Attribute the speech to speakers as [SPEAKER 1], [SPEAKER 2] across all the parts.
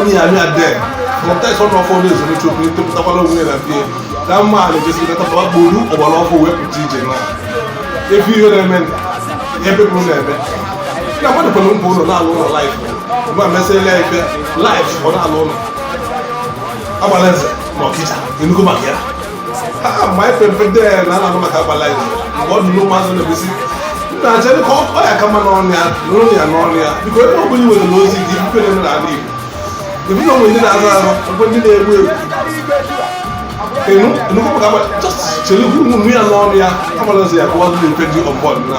[SPEAKER 1] onye ya mịa de fọntes ọnụ ọfọ na ezuru chukwu etopụtakwala onwe na bie na mma a na-ejesi natapa buru ọgbara ọfụ wee pụta ije na ebe ihe na-eme ebe bụ na-eme na mmadụ kwere mbụ ụlọ na-alụ ụlọ live mgbe a mesịrịla ya ife live ọ na-alụ ụlọ agbala nze na ọkịja ị nụgo maka ya na-acha ka ọ ya kama n'ọnụ ya n'ụlọ ya n'ọnụ ya biko ebe ọbụla iwere na ozi gị ife na n'ala Igbo ebe e onwe ndị na-azụ azụ mgbe ndị na-egbu egbu enu nnukwu maka chere ụmụ ya n'ọnụ ya agbara ọzọ ya bụ ọdụ na-efe ndị ọbọdụ na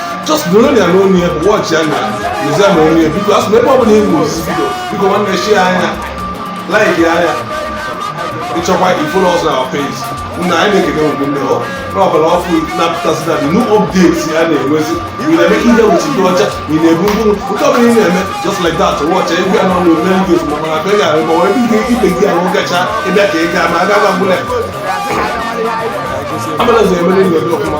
[SPEAKER 1] just nọrọ ya n'onu ya bụ watchianụ ya lụzi ya na onu ya biko asụ na ebe ọ bụla ịhụ osisi bido biko nwanne shareanụ ya likeanụ ya ị chọkwa ị follow us on our page nna anyị na-ekene mgbe niile ọ n'ọgbara ọfụ na-apụtasị na new updates a na-enwezi ị na-eme ka ihe wuchi dị ọcha ị na-ebu mkpụrụ nke ọbụla ị na-eme just like that wọcha egwu ya n'ọnụ ome ndị ozugbo mana abịa ga arịba wee ihe ibe gị ahụ gacha ịbịa ka ị gaa ma aga gwa mgbụla amana zai mani ne da kuma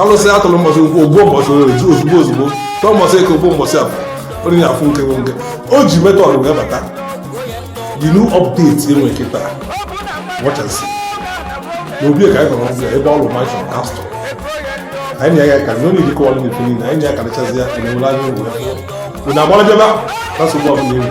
[SPEAKER 1] alụsị a tụrụ mbọchị nkwọ o gbuo mbọchị orie ju ozugbo ozugbo tụọ mbọchị eke o gbuo mbọchị afọ onye na-afụ nke bụ nke o ji method wee bata the new update e nwe kịta wọchasị na obi ka anyị nọrọ ọgwụ ya ebe ọlụ mansion castle anyị na ya ga-aka na onye dịka ọlụ na ife niile anyị na ya karịchazi ya ka na-enwere anya ụgwọ ya bụ na agbara bịaba na nsogbu ọbụla enwe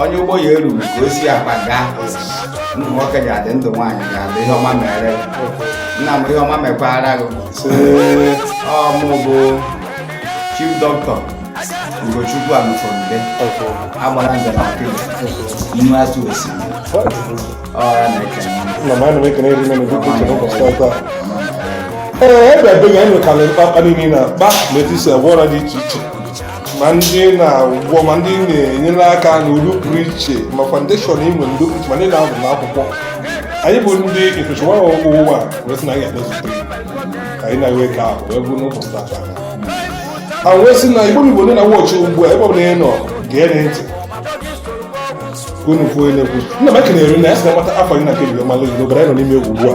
[SPEAKER 2] onye ụgbọ ya eruru ka o si akpa gaa ndụ nwoke ga-adị ndụ nwaanyị ga-adị ihe ọma mere nna m ihe ọma mekwara gị ọ mụ bụ chief dọkịta ugochukwu alụfọmde agbara nze na ọkịja inu atụ osimiri ọra na-ekene na ma ana m ekene eri mene dịka uche n'ụbọchị ọzọ a
[SPEAKER 1] ee ebe ebe anyị enwekala mkpakpa niile na-akpa na etu e si agwọ ọrịa dị iche iche ma ndị na-agwọ ma ndị na-enyere aka n'uru pụrụ iche ma foundation e nwe ndị pụrụ iche ma ndị na-azụ n'akwụkwọ anyị bụ ndị ịtụchụwa ọgwụ ụwa wee sị na anyị ga-emezute anyị na-ewe ka ahụ wee bụrụ n'ụbọchị tata ha wee sị na igbo igbo ndị na-watch ugbu a ebe ọ bụla ị nọ gee nụ ntị unu kwuo na-ekwu nna m ekenere na ya sị na nwata afọ anyị na nke bido malụ igbo bara anyị nọ n'ime egwu ugbu a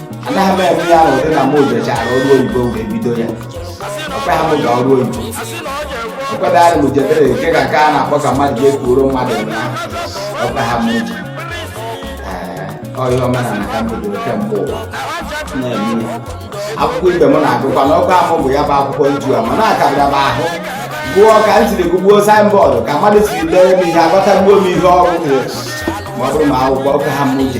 [SPEAKER 2] anaghị m eme ya ahụ dị na m jechara ọrụ oyibo wee bido ya o kweghị m ga ọrụ oyibo o kwebeghị m jebere nke ka nke a na-akpọ ka mmadụ ga-ekwuoro mmadụ na o kweghị m je ihe omenala ka m bidoro kemgbe ụwa na-eme akwụkwọ ibe m na-agụkwa na ọkwa ahụ bụ ya bụ akwụkwọ nju a ma na-akarịra m ahụ gụọ ka m siri gụgbuo signboard ka mmadụ siri dere m ihe agụtagbuo m ihe ọrụ ma ọ bụrụ ma akwụkwọ ọka ha m ji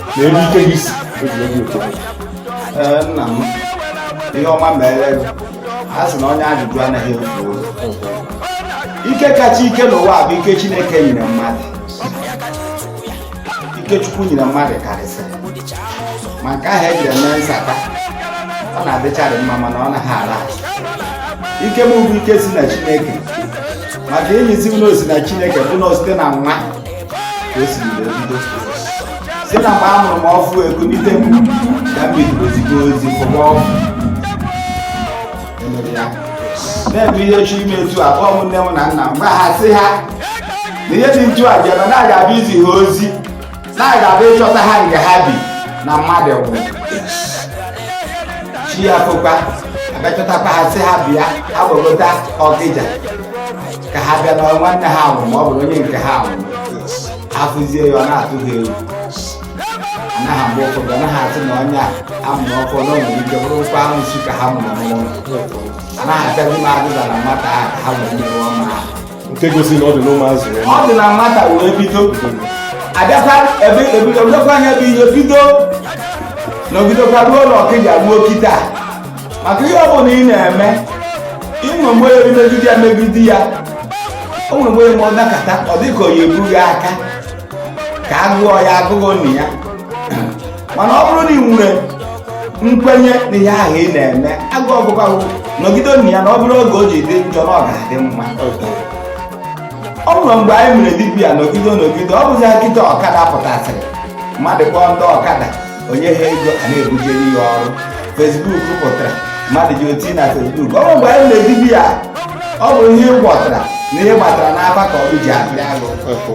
[SPEAKER 1] na ebe ike gị si eji obi ụtọ ee nna
[SPEAKER 2] m ihe ọma meere gị a sị na onye ajụjụ anaghị efu oge ike kacha ike n'ụwa bụ ike chineke nyere mmadụ ike chukwu nyere mmadụ karịsịrị ma nke ahụ e ji eme nsata ọ na-adịcharị mma mana ọ naghị ala ike m bụ ike si na chineke maka ihe m ji sị na o si na chineke bụ na site na nwa ka o si wee bido si na mgbe a mụrụ m ọfụụ ekunite m ya bidoro ozigbo ozi fụwa ọfụ emere ya na-eme ihe chi ime etu a kpọọ m nne m na nna m gwa ha sị ha na ihe dị etu a bịara na a ga-abịa izi ha ozi na a ga-abịa ịchọta ha nga ha bi na mmadụ nwụrụ chi ya fokwa a bịa chọtakwa ha sị ha bịa agbagota ọkịja ka ha bịa na nwanne ha nwụrụ ma ọ bụrụ onye nke ha nwụrụ afụzie ya ọ na-atụ ha egwu anaghị mgbe ụfọdụ anaghị atụ na onye a a mụrụ ọfụụ na nwere ike bụrụkwa arụsị ka ha mụrụ n'ụlọ anaghị abịazi m adịba na nwata ahụ ka ha wee mere ọma ha nke gosi
[SPEAKER 1] na ọ dị n'ụmụazụ ya ọ dị na nwata
[SPEAKER 2] wee bido abịakwa ebe ebidokwa ya bụ ihe bido nọgidekwa ruo n'ọkịja ruo kịta maka ihe ọ bụla ị na-eme e nwere mgbe ị megide ya megide ya o nwere mgbe ma ọ dakọta ọ dị ka onye ebughị aka ka a gụọ ya agụgụ na ya mana ọ bụrụ na ị nwere nkwenye na ihe ahụ ị na-eme agụ ọgụgụ nọgide na ya na ọ bụrụ oge o ji dị njọ na ọ ga-adị mma o nwere mgbe anyị mere dibia nọgide nọgide ọ bụzi kịta ọkada pụtasịrị mmadụ kpọọ ndị ọkada o nye ha ego a na-ebujere ya ọrụ fesbuk pụtara mmadụ ji oti na fesbuk ọ bụ mgbe anyị na-eme dibịa ọ bụ ihe ị gwọtara na ihe ị gbatara n'afa ka ọrụ ji abịara gị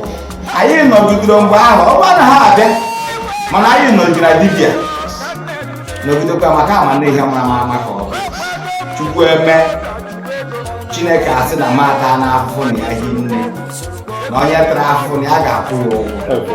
[SPEAKER 2] anyị nọgidere mgbe ahụ ọrụ anaghị abịa mana anyị nọgidere na dibịa nọgidekwa maka a ma na ihe mara mara maka ọ bụ chukwu eme chineke a sị na mata na afụfụ na ya hi nne na onye tara afụfụ na ya ga-akwụ ya ụgwọ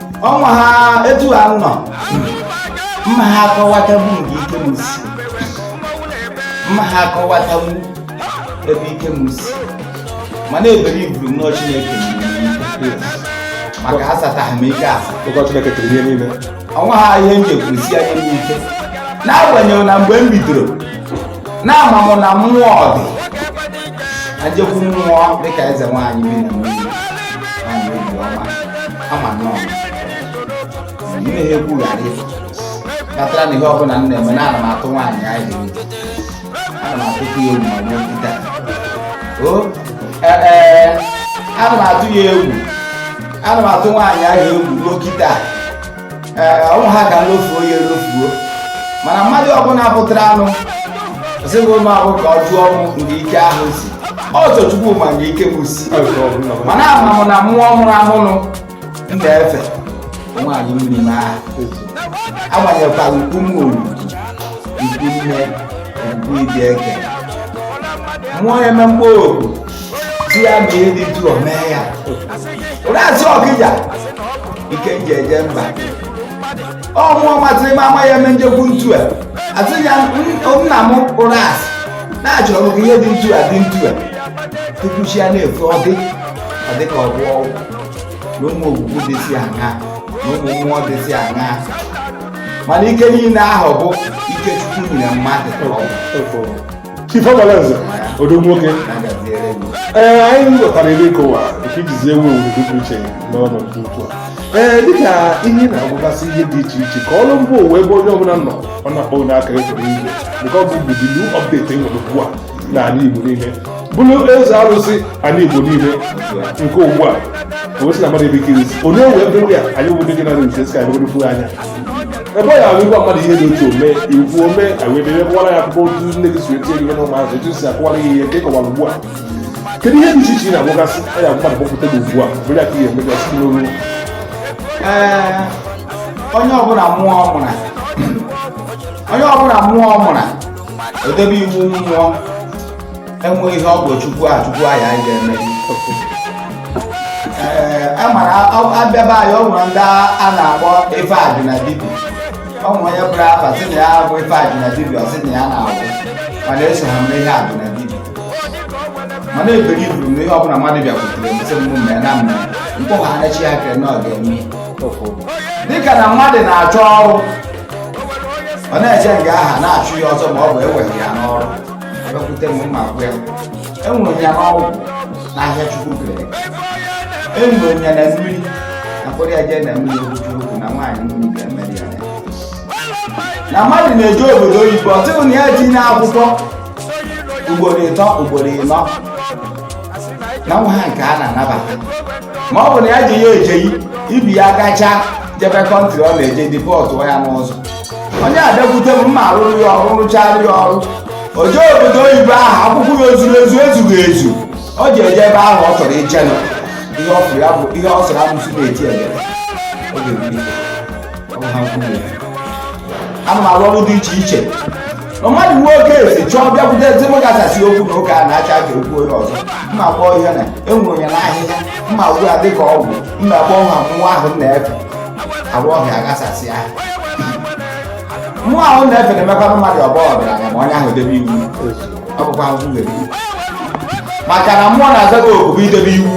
[SPEAKER 2] ọnwa ha etu ha nọ m maha akọwatabu nke ike m si m maha akọwatabu ebe ike m si mana ebere iburu nnọọ chineke maka asataghị m ike asa ọ kwa chineke kere ihe niile ọnwa ha ihe m ji ekwusi anya m ike n'agbanyeghị na mgbe m bidoro na ama m na mmụọ dị ajekwu mmụọ dịka eze nwaanyị bi na mmiri kama nọọ ihe ekwugharị kpatara na ihe ọbụla m na-eme na ana m atụ nwaanyị ahụ ana m atụkwu ya egwu ma ruo kịta o ee ana m atụ ya egwu ana m atụ nwaanyị ahụ egwu ruo kịta ee ọnwụ ha ga lofuo ya elofuo mana mmadụ ọbụla pụtara anụ sịbụ ụmụ ahụ ka ọ jụọ mụ nke ike ahụ si ọtọ chukwu ma nke ike mụ si mana ama m na mmụọ mụrụ amụnụ m na-efe nwaanyị mmiri m aha agbanyekwara ukwu m oru ukwu nne ukwu ịdị eke mmụọ ya eme mkpụrụ si ya ma ihe dị ntu a mee ya Ụrasị Ọkịja ike m ji eje mba ọ mmụọ masịrị m ama ya eme m jekwu ntu a asị ya nna m Ụrasị na achọrọ m ka ihe dị ntu a dị ntu a tupu chi ya na-efo ọ dị ọ dị ka ọ bụ ọgwụ na ụmụ ogwugwu dịsị aṅa na ụmụ mmụọ dịsị aṅa mana ike niile ahụ bụ ike chukwu nyere mmadụ Chief
[SPEAKER 1] Amaleze odogwu nwoke ee anyị ghọtara ebe ị kọwa nke i jizi ewu ewu dị iche n'ọnọdụ ugbu a ee dịka ị na-agwọgasị ihe dị iche iche ka o ruo mba ụwa ebe onye ọbụla nọ ọ na-akpọ n'aka efere igwe nke ọ bụ budilu update e nwere ugbu a n'ala Igbo niile bụrụ eze arụsị ala Igbo niile nke ugbu a o si na mmadụ ebe ikirizi onye ewe ebe ya anyị obodo gị na-arụzi esi ka anyị anya ebe ọ ya ahụ ị gwa mmadụ ihe dị otu o mee i kwuo o mee ewebere kọwara ya akụkọ otu nne gị si etinye gị na ụmụazụ etu si akọwara gị ihe ka ị kọwara ugbu a kedu ihe dị iche iche ị na-agwọgasị a ya mmadụ kpọpụta gị ugbu a bụrụ ya ka ihe emega si n'olu ee
[SPEAKER 2] onye ọbụla mmụọ mụrụ onye ọbụla mmụọ mụrụ edebe iwu mmụọ enwe ihe ọ bụ chukwu a chukwu a ya anyị ga-eme ee a mara abịaba anyị ọ nwere ndị a na-akpọ ife ajụ na dibia ọ nwere onye pụrụ afa sị na ya bụ ife ajụ na dibia ọ sị na ya na-agwọ mana eso ha mere ihe ajụ na dibia mana eberi buru m na ihe ọbụla mmadụ bịakwutere m sị m mee na m mee mkpụrụ ha na-echi ya kere na ọ ga-eme dịka na mmadụ na-achọ ọrụ ọ na-eje nga aha a na-achụ ya ọsọ ma ọ bụ eweghị ya n'ọrụ abịakwute m ma agwa ya e nwere ya n'ọgwụ n'ahịhịa chukwu kere e nwere ya na mmiri a kpọrọ ya jee na mmiri obuju okwu na nwaanyị mmiri ga-emere ya na mmadụ na-eje obodo oyibo ọtụtụ na ya tinye akwụkwọ ugboro ịtọ ugboro ịnọ na enweha nke a na-anabata ma ọ bụ na ya ji ya ejeghị ibi ya gacha jebe country ọ na-eje deportuo ya n'ụzọ onye abịakwute m mma arụrụ ya ọrụ rụchara ya ọrụ o jee obodo oyibo ahụ akwụkwọ ya o zuru ezu ezughị ezu o ji eje ebe ahụ ọ chọrọ ije nọ ihe ọ fụrụ ya bụ ihe ọ sọrọ amụsụ na-eti ebe ọ ga-ebuli ọ bụ ha kwuru ya ana m arụ ọrụ dị iche iche na mmadụ nwee case chọọ bịakwute ezi m ga-asasị okwu na ụka a na-acha ka okwu onye ọzọ mma agwa ya na e nwere ya n'ahịhịa mma agwọrọ ya dịka ọgwụ mma kpọọ ha mmụọ ahụ m na-efe arụ ọhịa aghasasị ya mmụọ ahụ na-efe na-emekwanụ mmadụ ọ bụrụ ọgaranya ma onye ahụ debe iwu ọ bụkwa ahụhụ nwere iwu maka na mmụọ na-aza gị oku bụ idebe iwu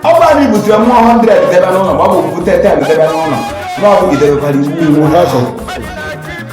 [SPEAKER 2] ọ bụrụ na i butere mmụọ 100 debe n'ụlọ ma ọ bụ bute 10 debe n'ụlọ ma ọ bụ i debekwara iwu iwu ha so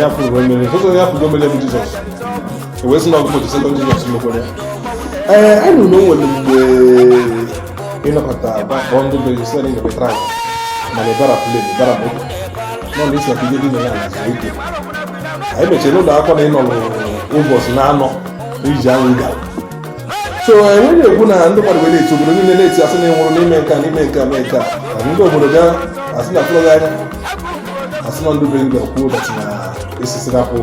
[SPEAKER 1] ya fụrụ o mere onye a fụrụ o mere bụ jizọs o wee sị na ọgụgụ jisị na jizọs mekwere ya ee a nụrụ na o nwere mgbe ịnọkọta bakpọ ndị be jisị na ịnọkọ trak mana ịbara plen ịbara moto na isi na ihe dị na ya na zuru ike anyị mechiri ụlọ akwụkwọ na ị nọrọ ụbọchị na anọ iji anwụ gara so enwe na-ekwu na ndị mmadụ were etu obodo niile na-eti asị na ị nwụrụ n'ime nke a n'ime nke a mee nke a ndị obodo ga asị na tụrụ anya asị na ndị be ndị kwuo ụbọchị na esisi na kwụ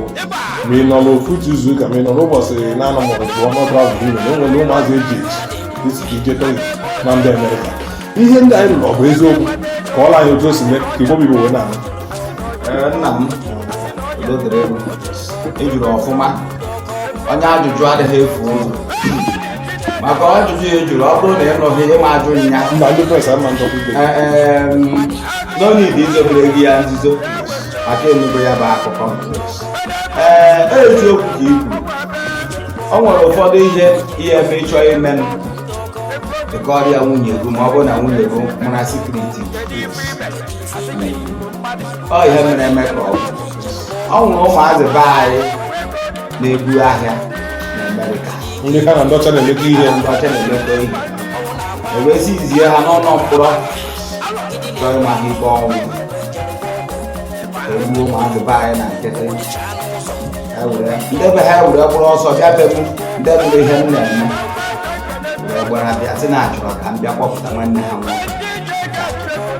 [SPEAKER 1] ma ị nọ n'ofu otu izu ụka ma ị nọ n'ụbọchị na-anọ ma ọ bụ ọnụ travel niile na enwere ụmụazị eji eji isi ka ije tọị na ndị amerịka ihe ndị anyị nụ ọ bụ eziokwu kọọrọ anyị otu o si mee ka igbo bụ igbo wee na-anụ nna
[SPEAKER 2] m udo dịrị unu ị jụrụ ọfụma onye ajụjụ adịghị efu ụzọ maka ọjụjụ ya ị jụrụ ọ bụrụ na ị nụghị ị ma ajụ ya mba ndị press ama ndọkwa
[SPEAKER 1] ibe Eh, eh, no need
[SPEAKER 2] izobere gị ya nzuzo maka ị nụgo ya bụ akụkọ ee eziokwu ka i kwuru o nwere ụfọdụ ihe ihe eme ị chọọ ime m ị kọọrọ ya nwunye gị ma ọ bụrụ na nwunye gị mara secret ọ ihe mere eme ka o nwere ụmụazị be anyị na-ebu ahịa na Amerịka ndị ha na ndị ọcha
[SPEAKER 1] na-emekọ ihe ndị ọcha na-emekọ ihe
[SPEAKER 2] e wezi zie ha n'ụlọ mkpọrọ chọọ ịma ha ikpe ọnwụ e gbuo ụmụazị be anyị na nkịtị ndị be ha were kpụrụ ọsọ bịa be m ndị fụrụ ihe m na-eme wee gbara bịa sị na achọrọ ka m bịa kpọpụta nwanne ha nwoke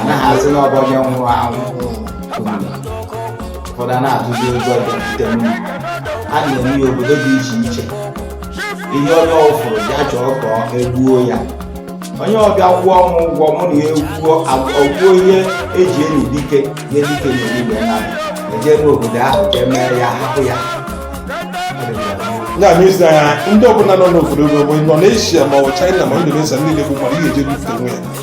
[SPEAKER 2] anaghị asị na ọ bụ onye nwụrụ anwụ ụfọdụ a na-atụzi ụjọ bịakwute m a na-eme ya obodo dị iche iche ihe onye ọ fụrụ ya chọọ ka e gbuo ya onye ọ bịa kwụọ m ụgwọ mụ na ya ekwuo ọ gwụ ihe e ji enye dike nye dike na igbe na eje n'obodo ahụ ka e mee ya hapụ
[SPEAKER 1] ya ya mezi anya ndị ọbụla nọ n'obodo bụ nọ n'eshia ma ọ bụ chaịna ma indonesia niile bụ mmadụ ihe eje bute nwe ya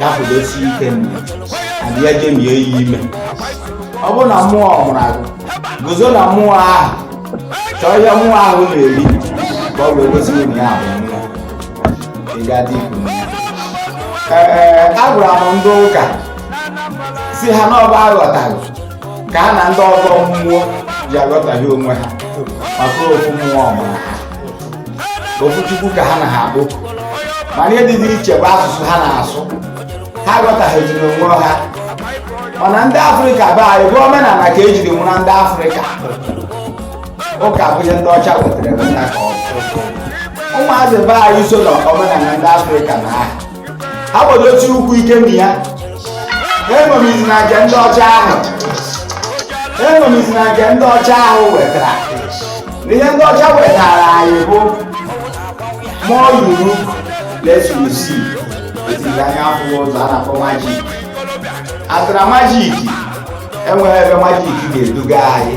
[SPEAKER 2] ya kwụdosi ike nne abịa jemie ya ime ọ bụrụ na mmụọ mụrụ gị guzo na mmụọ ahụ chọọ ihe mmụọ ahụ na-eri ka ọ wee gosi na ya bụ nwa ị ga-adị ikwu ee agwara m ndị ụka sị ha na ọ bụ aghọtaghị ka ha na ndị ọgọ mmụọ ji aghọtaghị onwe ha maka ofu mmụọ mụrụ ha ofu chukwu ka ha na ha akpọku mana ihe dị iche bụ asụsụ ha na-asụ ha aghọtaghịziri onwe ha mana ndị afrịka be anyị bụ omenala ka ejiri mara ndị afrịka ụka bụ ihe ndị ọcha wetara eweta ka ọ bụ ụmụazị be anyị so na omenala ndị afrịka na aha ha gbadosie ụkwụ ike na ya eṅomizina nke ndị ọcha ahụ eṅomizina nke ndị ọcha ahụ wetara ihe ndị ọcha wetara anyị bụ more you look less you see etiri anya afụghị ụzọ a na-akpọ magic atara magic enweghị ebe magic ga-eduga anyị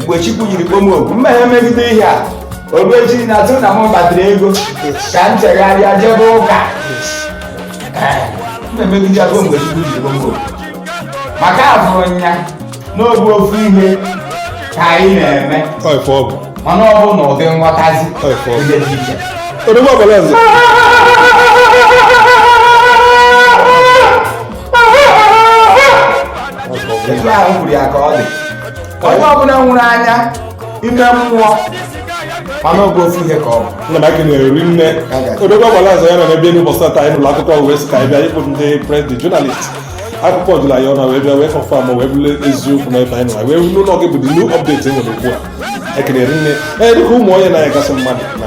[SPEAKER 2] mgbe chukwu jiri kpọ m oku m emegide ihe a oru echi na atụ na m kpatara ego ka m chegharịa jebe ụka na-emegide ya ruo mgbe chukwu jiri kpọ m oku maka afụrụ m ya na ọ bụ ofu ihe ka anyị na-eme Ọ ife ọ bụ. mana ọ bụ na ụdị nghọtazi Ọ ife ọ bụ. dị iche iche Odogwu agbala nze. Ọ ife ọ bụ. etu ahụ kwuru ya ka ọ dị onye ọbụla nwere anya ime mmụọ ma na ọ bụ ofu ihe ka ọ bụ nna m ekele rinne
[SPEAKER 1] odogwu agbala azọ ya nọ n'ebe elu ụbọchị taa anyị nụrụ akụkọ wee sị ka anyị bịa ịkpụ ndị press the journalist akụkọ ejula ya ọnụ wee bịa wee confirm wee bụrụ eziokwu na ebe anyị nọ wee bụrụ na ọ gị bụ the new update enwere ugbu a ekele rinne ee dịka ụmụ onye na-anya gasị mmadụ na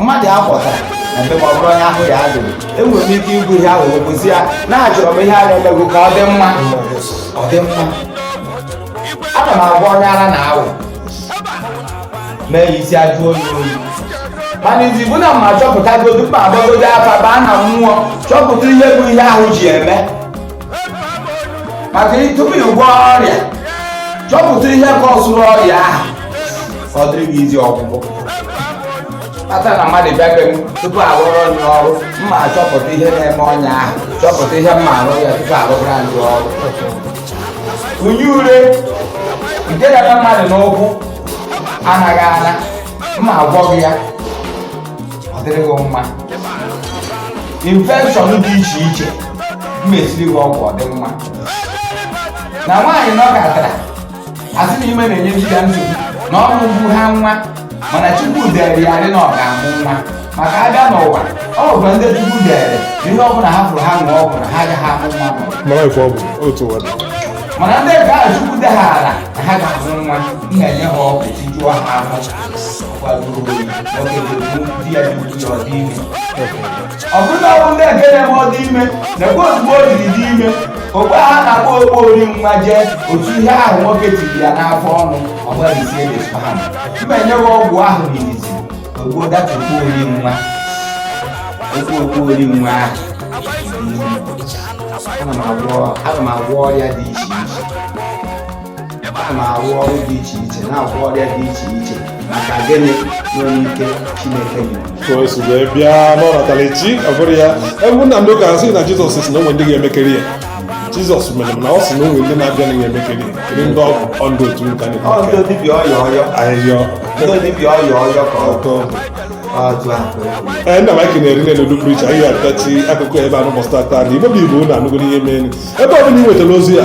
[SPEAKER 2] mmadụ a kpọtara na be m ọ bụrụ onye ahụ ya adịghị enwere m ike igwu ihe ahụ okwuzi ya na achọrọ m ihe a na-emego ka ọ dị mma ọ dị mma ana m agwa onye ara na awụ mee ya isi ajụ oyi oyi mana izizi bụ na mma achọpụtagodu mma agbagodu afa baa na mmụọ chọpụta ihe bụ ihe ahụ ji eme maka tupu ị gwọọ ọrịa chọpụta ihe kọsụrụ ọrịa ahụ ka ọ dịrị gị easy ọgwụgwọ kpata na mmadụ bịa be m tupu arụrụ onye ọrụ mma achọpụta ihe na-eme onye ahụ chọpụta ihe mma arụ ya tupu arụbara ndị ọrụ ọnya ure nke na-eme mmadụ n'ụkwụ anaghị ana mma agwọ gị ya ọ dịrị gị mma infection dị iche iche m esiri gị ọgwụ ọ dị mma na nwaanyị nọkatara asị na ime na-enye di ya nsogbu na ọ mụbuha nwa mana chukwu dere ya ede na ọ ga-amụ nwa maka abịa n'ụwa ọ bụkwa ndị chukwu dere na ihe ọbụla ha fụrụ ha ṅụọ ọgwụ na ha agaghị amụ nwa ma mara ife ọ bụ otu ụwa dị mana ndị nke a chukwu deghara na ha ga-amụ nwa m na-enye ha ọgwụ tijuo ha ahụ kwadoro oge di ya ji utu ya ọ dị ime ọ bụrụ na ọ bụ ndị nke na-eme ọ dị ime na-ekwe ozugbo o jiri dị ime ogbe ha na-akpọ okpo ori nwa jee otu ihe ahụ nwoke tiri ya n'afọ ọnụ ọ gbarisie the sperm ma e nyeghị ọgwụ ahụ n'izizi o gbuo that okpo ori nwa okpo okpo ori nwa ahụ ana m agwọ ana m agwọ ọrịa dị iche iche a na-arụ ọrụ dị iche iche na-agwọ ọrịa dị iche iche maka gịnị nwere ike chineke nyere bịa
[SPEAKER 1] n'ọnatara chi ọ bụrụ ya ebe nna m ụka sị na jizọs si na o nwe ndị ga-emekarị ihe jizọs mere m na ọ sị na o nwe ndị na-abịa na ga-emekarị ya kiri ndị ọgwụ ọndụ otu nka na ọndụ dibịa
[SPEAKER 2] ọyọ ọyọ ahịhịa ndị
[SPEAKER 1] dibịa
[SPEAKER 2] ọyọ ọyọ ka ọ
[SPEAKER 1] tọọ nna m aka na-eri n'elu pricha ihe apịachi akụkọ ebe a n'ụbọsị taata na igbo bụ igbo na anụgoro ihe mere ebe ọ bụla ị nwetara ozi ya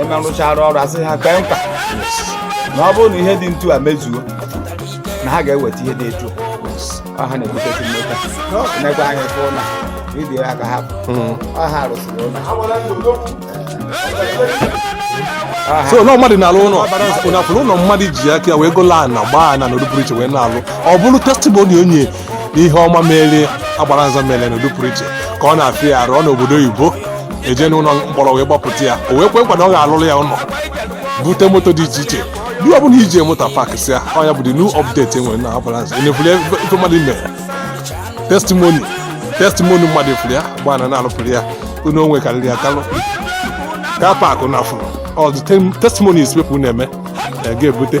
[SPEAKER 2] eme rụchara ọrụ a sị ha kwee nkwa na ọ bụrụ na ihe dị etu a mezuo na ha ga-eweta ihe dị etu a. ọ ha na-ebutezi moto nekwa anya fụ na vidiyo ya ka ha bụ ọ ha
[SPEAKER 1] rụsịrị ụlọ so na mmadụ na-alụ ụlọ unu afụrụ ụlọ mmadụ ji aka ya wee gola ana gbaa ana n'ụdị pụrụ iche wee na-alụ ọ bụrụ testimoni onye n'ihe ọma mere agbara nze mere n'ụdị pụrụ iche ka ọ na-afịa ya arụ n'obodo oyibo e jee n'ụlọ mkpọrọ wee gbapụta ya o wee kwe nkwa na ọ ga-alụrụ ya ụlọ bute moto dị iche iche ndị ọbụla iji moto pak si ya ọ nya bụ the new update e nwere na agbara nze enefuli ife mmadụ mere testimoni testimoni mmadụ efuli ya gba na na-alụpụrụ ya ụnọ onwe karịrị ya kalụ car park na a fụrụ all the testimonies people na-eme ga-ebute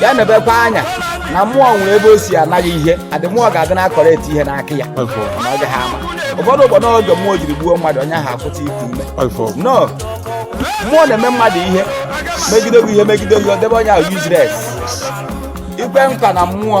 [SPEAKER 2] ya nebekwa anya na mmụọ nwere ebe o si anaghị ihe adị mmụọ ga-adị na-akọrọ eti ihe n'aka ya na ọ gaghị ama ụfọdụ ụfọdụ oge mmụọ jiri gbuo mmadụ onye ahụ akwụta iku ume no mmụọ na-eme mmadụ ihe megide gị ihe megide gị ọ debe onye ahụ useless ikwe nkwa na mmụọ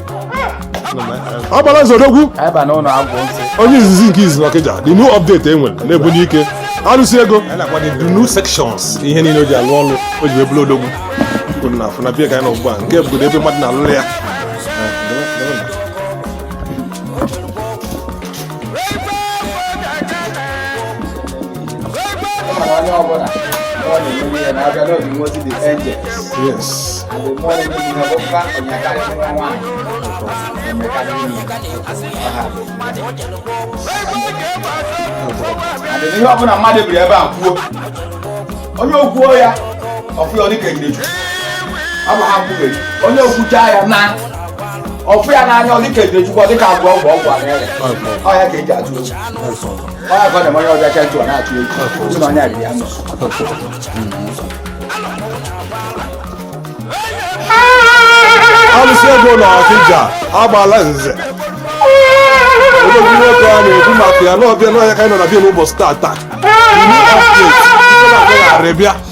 [SPEAKER 2] agbala nze odogwu onye izizi nke
[SPEAKER 1] izi n'ọkịja the new update e nwere na-ebunye ike arụsị ego the new sections ihe niile o ji alụ ọlụ o ji ebulu odogwu kwuru na afụ na bie ka anyị nọ ugbu a nke obodo ebe mmadụ na-alụrụ ya
[SPEAKER 2] ihe ọbụla mmadụ biri ebe a kwuo onye o kwuo ya ọ fụ ya dịka ejideju ọ bụ ha kwubeghị onye o kwucha ya na ọ fụ ya n'anya ọ dịka ejideju ọ dịka agwọ ọgwụ ọgwụ ahụ ya ka eji atụ
[SPEAKER 1] alụsị ego na ọkịja agbala nze odogwu nwoke a na-ekwu maka ya n'ọbịa n'ọhịa ka anyị nọ na be ya n'ụbọchị tata New update. Ndị na-abịa ghara bịa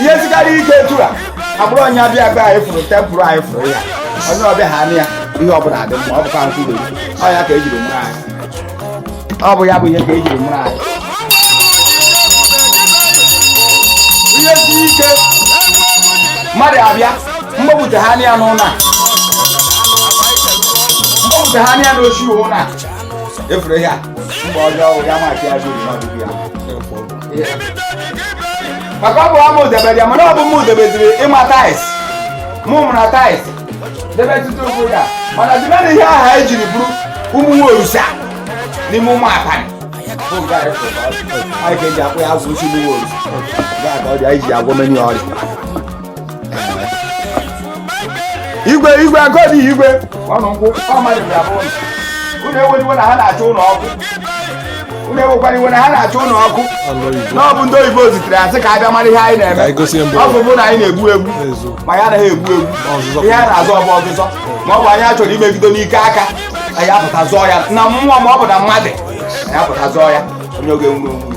[SPEAKER 2] ihe sikarị ike etu a abụrụ onye abịa abịa anyị fụrụ tempụl anyị fụrụ ya onye ọbịa ha anị ya ihe ọbụla dị mma ọ bụkwa nkwụrụ ọ ya ka ejiri mụrụ anyị ọ bụ ya bụ ihe ka ejiri mụrụ anyị ihe si ike mmadụ abịa mgbapụta ha anị ya n'ụlọ a mgbapụta ha anị ya n'ochi ụlọ a efuru ihe a mgbe ọjọọ ya maka ya jiri n'ọdịbịa maka ọ bụ ama udebedi ya mana ọ bụ m udebediri ịma tais mụ mụra tais debe tutu ụkwụ ya mana dịbe na ihe aha anyị jiri bụrụ ụmụ nwa orusa n'ime ụmụ apanị bụ nke anyị kwụrụ ọrụ. anyị ga-eji akpọ ya agwụ isi ụmụ nwa orusa nke a ka ọ dị anyị ji agwọ menu ọrịa igwe igwe agodi igwe ọnụ nkwụ mmadụ bịa bụ ụlọ unu ewela iwe na ha na-acha unu ọkụ unu ewekwara iwe na ha na-acha unu ọkụ na ọ bụ ndị oyibo zitere ha sị ka abịa mara ihe anyị na-eme ọ bụ bụ na anyị na-egbu egbu ma anyị anaghị egbu egbu ihe a na-azọ ọ bụ ọzụzọ ma ọ bụ onye achọrọ imegido n'ike aka anyị apụta zọọ ya na mmụọ ma ọ bụ na mmadụ anyị apụta zọọ ya onye oge nwuru onwe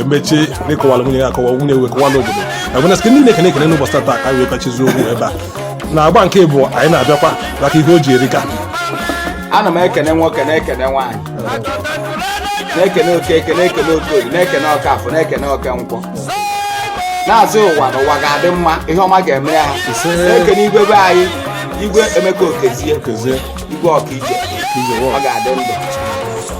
[SPEAKER 1] emechie ịkọwala nwunye ya akọwa nwunye wee kọwala obodo agwana site niile ekene ekene n'ụbọchị taa ka wee kachizi okwu ebe a na agba nke bụ anyị na-abịakwa maka ihe o ji erika
[SPEAKER 2] ana m ekene nwoke na-ekene nwaanyị na-ekene okeke na-ekene okorie na-ekene okafọ na-ekene oke nkwọ na-asị ụwa na ụwa ga-adị mma ihe ọma ga-eme ya ha na-ekene igwe be anyị igwe emeka okezie igwe ọkaije ọ ga-adị ndụ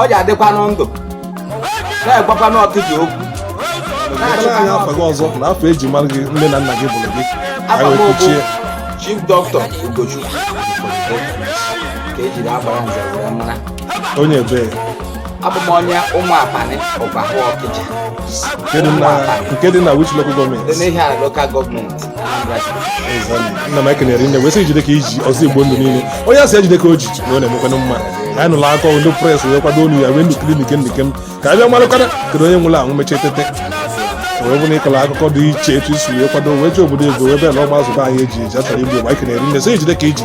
[SPEAKER 2] ọ ji adịkwanụ ndụ na-agwakwanụ ọkịja okwu
[SPEAKER 1] Ekwela anyị afa gị ọzọ na afa eji mara gị nne na nna gị gụrụ gị anyị wee kwuchie
[SPEAKER 2] chief dọkịta ugochukwu ka ejiri agbara nze were mara onye
[SPEAKER 1] ebee abụ
[SPEAKER 2] m onye ụmụ apanị ụbahụ ọkịja nke dị na-
[SPEAKER 1] nke dị na which local government dị n'ihiala
[SPEAKER 2] local government nna m ekene rinne
[SPEAKER 1] wee sị ijide ka iji ọzọ igbo ndụ niile onye asị ejide ka o ji na ọ na-emekwanụ mma anyị nụrụ akọ ndị press wee kwado onu ya wee ndụ klinik ndịke m ka abịa malụkara kedu onye nwụrụ anwụ mechie tete wee bụrụ ịkọrọ akụkọ dị iche etu isi wee kwado wee ji obodo ego wee bịa na ọgba azụba anyị eji eji achọrọ igbo mma anyị ekene rinne sị ijide ka iji